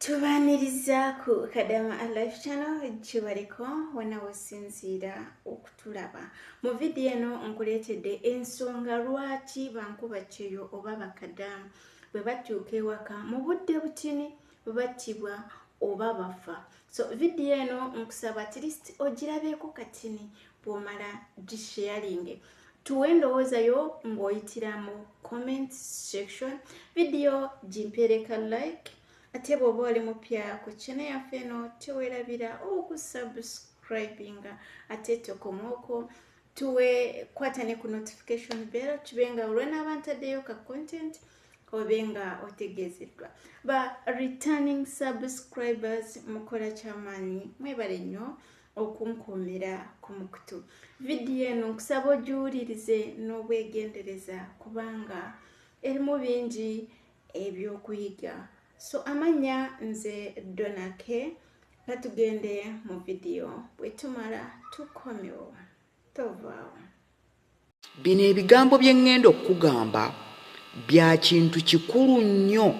tubaaniriza ku kadama alife channel kibaliko wona wesinziira okutulaba mu vidiyo eno nkuleetedde ensonga lwaki bankuba kyeyo oba bakadamu bwe batuuka ewaka mu budde butini battibwa oba bafa so vidiyo eno nkusaba atlist ogirabeeko katini bwomala gisharinge tuwe endowooza yo ng'oyitira mu comment section vidiyo gimpeereka like ate bw'oba oli mupya ku kine yaffe eno tewerabira okusubscribinga ate tokomwoko tuwe kwata ne ku notification bell kibe nga olwanaaba ntaddeyo ka content mm -hmm. obe nga otegeezeddwa ba returning subscribers mukola kyamaanyi mwebale nnyo okunkuumira ku mukutu vidiyo eno nkusaba ogiwulirize n'obwegendereza kubanga erimu bingi ebyokuyiga so amanya nze donake nga tugende mu vidiyo bwetumala tukomewo tovaawo bino ebigambo bye ŋŋenda okukugamba bya kintu kikulu nnyo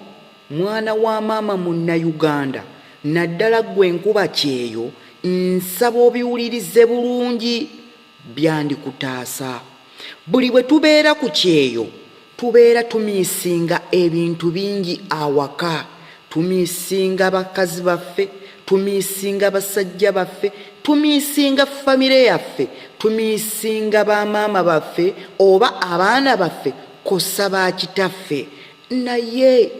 mwana wa maama munnayuganda naddala ggwe enkuba kyeyo nsaba obiwulirize bulungi byandikutaasa buli bwe tubeera ku kyeyo Tubeera tumiisinga ebintu bingi awaka. Tumiisinga bakazi baffe, tumiisinga basajja baffe, tumiisinga famire yaffe, tumiisinga bamaama baffe oba abaana baffe kosa ba kitaffe. Naye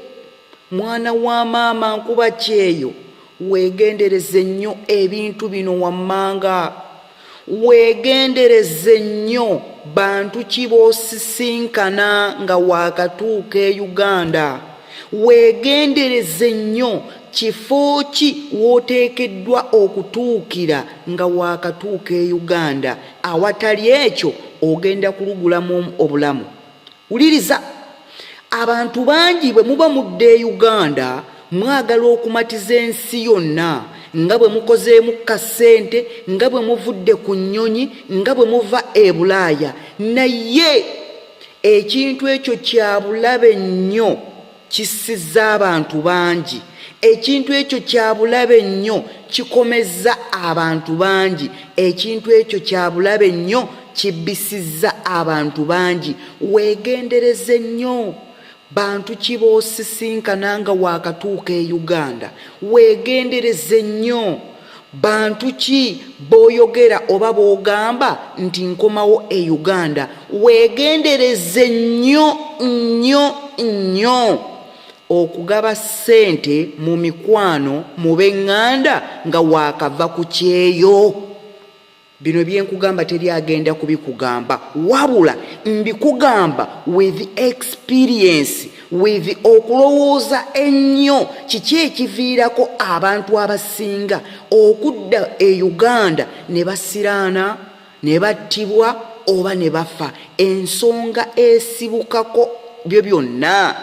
mwana wa maama nkuba kyeyo, weegendereze nnyo ebintu bino wammanga. weegendereze nnyo bantu ki b'osisinkana nga waakatuuka e uganda weegendereze nnyo kifo ki w'oteekeddwa okutuukira nga waakatuuka e uganda awatali ekyo ogenda kulugulamu obulamu wuliriza abantu bangi bwe muba mudda e uganda mwagala okumatiza ensi yonna nga bwe mukozeemu kasente nga bwe muvudde ku nnyonyi nga bwe muva e bulaaya naye ekintu ekyo kyabulabe nnyo kissizza abantu bangi ekintu ekyo kyabulabe nnyo kikomezza abantu bangi ekintu ekyo kyabulabe nnyo kibbisizza abantu bangi weegendereze nnyo bantu kiboosisinkana nga waakatuuka e uganda weegendereze nnyo bantu ki boyogera oba bogamba nti nkomawo e uganda wegendereze nnyo nnyo nnyo okugaba ssente mu mikwano mu benganda nga wakava ku kyeyo bino byenkugamba teri agenda kubikugamba wabula mbikugamba with experience with okulowooza ennyo kiki ekiviirako abantu abasinga okudda e uganda ne basiraana ne battibwa oba ne bafa ensonga esibukako byo byonna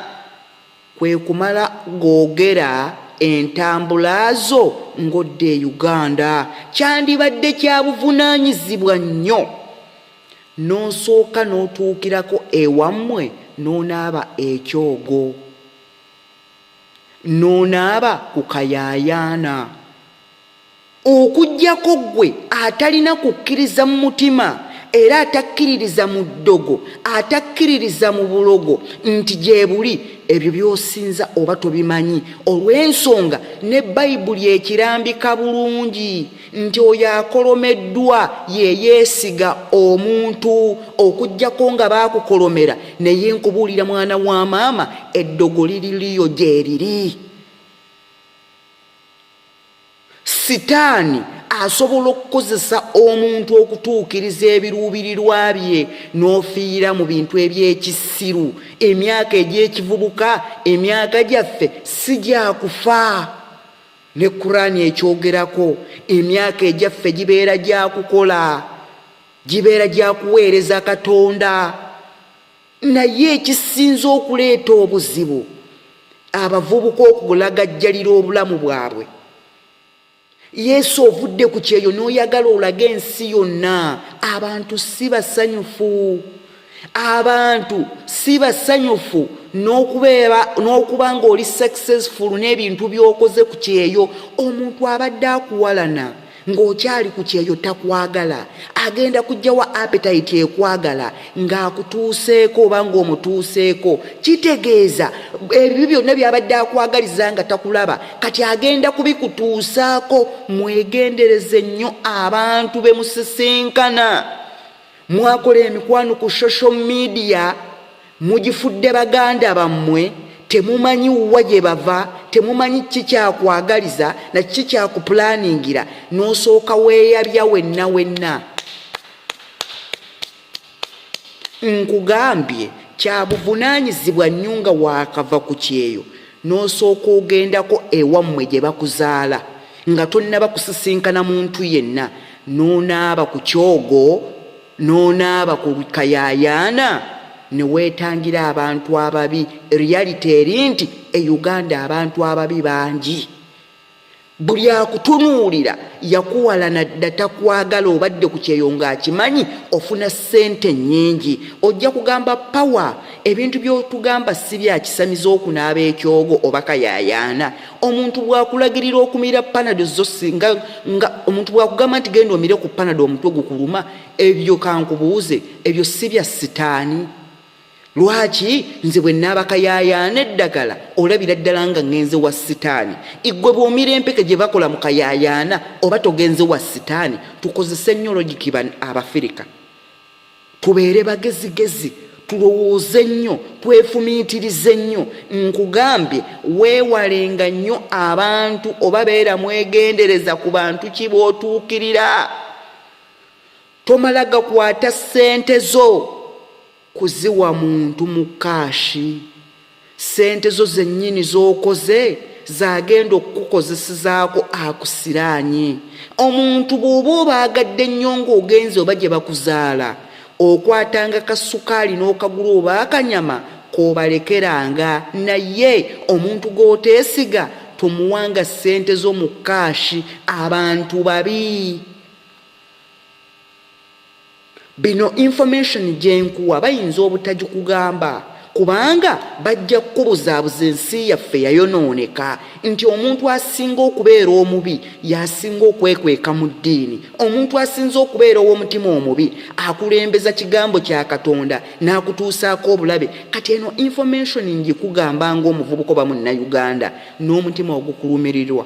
kwe kumala googera entambula zo ng'odda e Uganda. Kyandibadde kya buvunaanyizibwa nnyo n'osooka n'otuukirako ewammwe n'onaaba ekyogo n'onaaba ku kayaayaana. okujjako ggwe atalina kukkiriza mu mutima era atakkiririza mu ddogo atakkiririza mu bulogo nti gye buli ebyo by'osinza oba tobimanyi olw'ensonga ne bayibuli ekirambika bulungi nti oyo akolomeddwa yeyeesiga omuntu okuggyako nga baakukolomera naye nkubuulira mwana wa maama eddogo liriliyo gyeriri sitaani asobola okukozesa omuntu okutuukiriza ebiruubirirwa bye n'ofiira mu bintu eby'ekisiru emyaka egy'ekivubuka emyaka gyaffe si gyakufa ne kuraani ekyogerako emyaka egyaffe gibeera gyakukola gibeera gyakuweereza katonda naye ekisinze okuleeta obuzibu abavubuka okulagajjalira obulamu bwabwe yesu ovudde ku kyeyo n'oyagala olaga ensi yonna abantu si basanyufu abantu si basanyufu n'okuba ng'oli successful n'ebintu by'okoze ku kyeyo omuntu abadde akuwalana ng'okyali ku kyeyo takwagala agenda kujjawa apetayiti ekwagala ng'akutuuseeko oba ng'omutuuseeko kitegeeza ebyo byonna byabadde akwagaliza nga takulaba kati agenda kubikutuusaako mwegendereze nnyo abantu bemusisinkana mwakola emikwano ku social media mugifudde baganda bammwe temumanyi wa gye bava temumanyi kiki kyakwagaliza na kiki kyakupulaningira n'osooka weeyabya wenna wenna nkugambye kyabuvunaanyizibwa nnyo nga waakava ku kyeyo n'osooka ogendako ewammwe gye bakuzaala nga tonnaba kusisinkana muntu yenna n'onaaba ku kyogo n'onaaba ku kayaayaana ne weetangira abantu ababi reality eri nti e uganda abantu ababi bangi buli akutunuulira yakuwalana dda takwagala obadde ku kyeyo ng'akimanyi ofuna ssente nnyingi ojja kugamba pawa ebintu by'otugamba si byakisamiza okunaaba ekyogo oba kayayaana omuntu bw'akulagirira okumira panado zo singa nga omuntu bw'akugamba nti genda omire ku panado omutwe gukuluma ebyo kankubuuze ebyo si bya sitaani lwaki nze bwe naabakayaayaana eddagala olabira ddala nga ŋŋenze wa sitaani iggwe bw'omira empeke gye bakola mu kayaayaana oba togenze wa sitaani tukozese nnyo logikiba abafirika tubeere bagezigezi tulowooze nnyo twefumiitirize nnyo nkugambye weewalenga nnyo abantu oba beera mwegendereza ku bantu ki bootuukirira tomala gakwata ssente zo kuziwa muntu mu kaashi ssente zo zennyini z'okoze zagenda okukukozesezaako akusiraanye omuntu bw'oba obaagadde nnyo ng'ogenze oba gye bakuzaala okwatanga kasukaali n'okagula oba akanyama kobalekeranga naye omuntu g'oteesiga tomuwanga ssente zo mu kaashi abantu babi bino information gyenkuwa bayinza obutagikugamba kubanga bajja kukubuzaabuza ensi yaffe yayonooneka nti omuntu asinga okubeera omubi yasinga okwekweka mu ddiini omuntu asinza okubeera ow'omutima omubi akulembeza kigambo kya katonda n'akutuusaako obulabe kati eno information ngikugamba ngaomuvubuka oba munnayuganda n'omutima ogukulumirirwa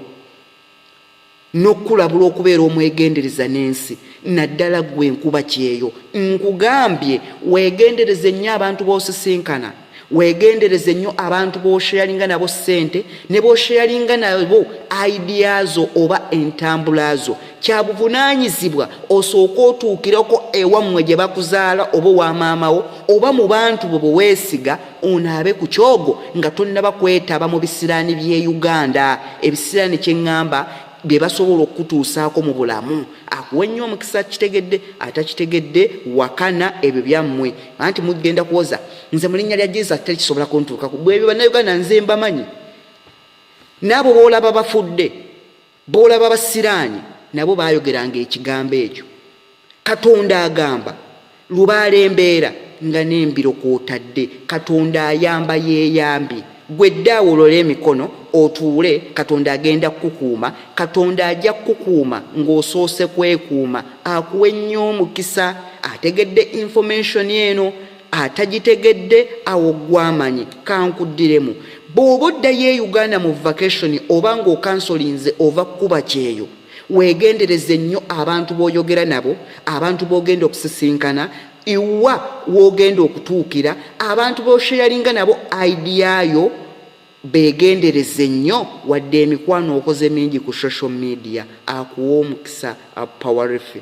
n'okukulabula okubeera omwegendereza n'ensi naddala ggwe enkuba kyeyo nkugambye weegendereze nnyo abantu b'osisinkana weegendereze nnyo abantu b'osheyalinga nabo ssente ne b'osheyalinga nabo aidiya zo oba entambula zo kya buvunaanyizibwa osooke otuukireko ewammwe gye bakuzaala oba owa maamawo oba mu bantu bwe bwe weesiga onaabe ku kyogo nga tonnaba kwetaba mu bisiraani by'e uganda ebisiraani kye ŋŋamba bye basobola okukutuusaako mu bulamu akuwe nnyo omukisa akitegedde atakitegedde wakana ebyo byammwe anti mugenda kuwoza nze mu linnya lya jesus teri kisobola kuntuukaku bwebyo bannayuganda nze mbamanyi naabo boolaba bafudde bw'olaba abasiraani nabo baayogeranga ekigambo ekyo katonda agamba lubaala embeera nga n'embiro kwotadde katonda ayamba yeeyambye gwe dde awolola emikono otuule katonda agenda kukukuuma katonda ajja kukukuuma ng'osoose kwekuuma akuwe nnyo omukisa ategedde information eno atagitegedde awo gwamanyi kankuddiremu bw'oba oddayo e uganda mu vacation oba ng'okansolinze ova kukuba kyeyo weegendereze nnyo abantu b'oyogera nabo abantu b'ogenda okusisinkana iwa w'ogenda okutuukira abantu b'osheyalinga nabo idiyayo beegendereze nnyo wadde emikwano okoze mingi ku social media akuwa omukisa apowarifi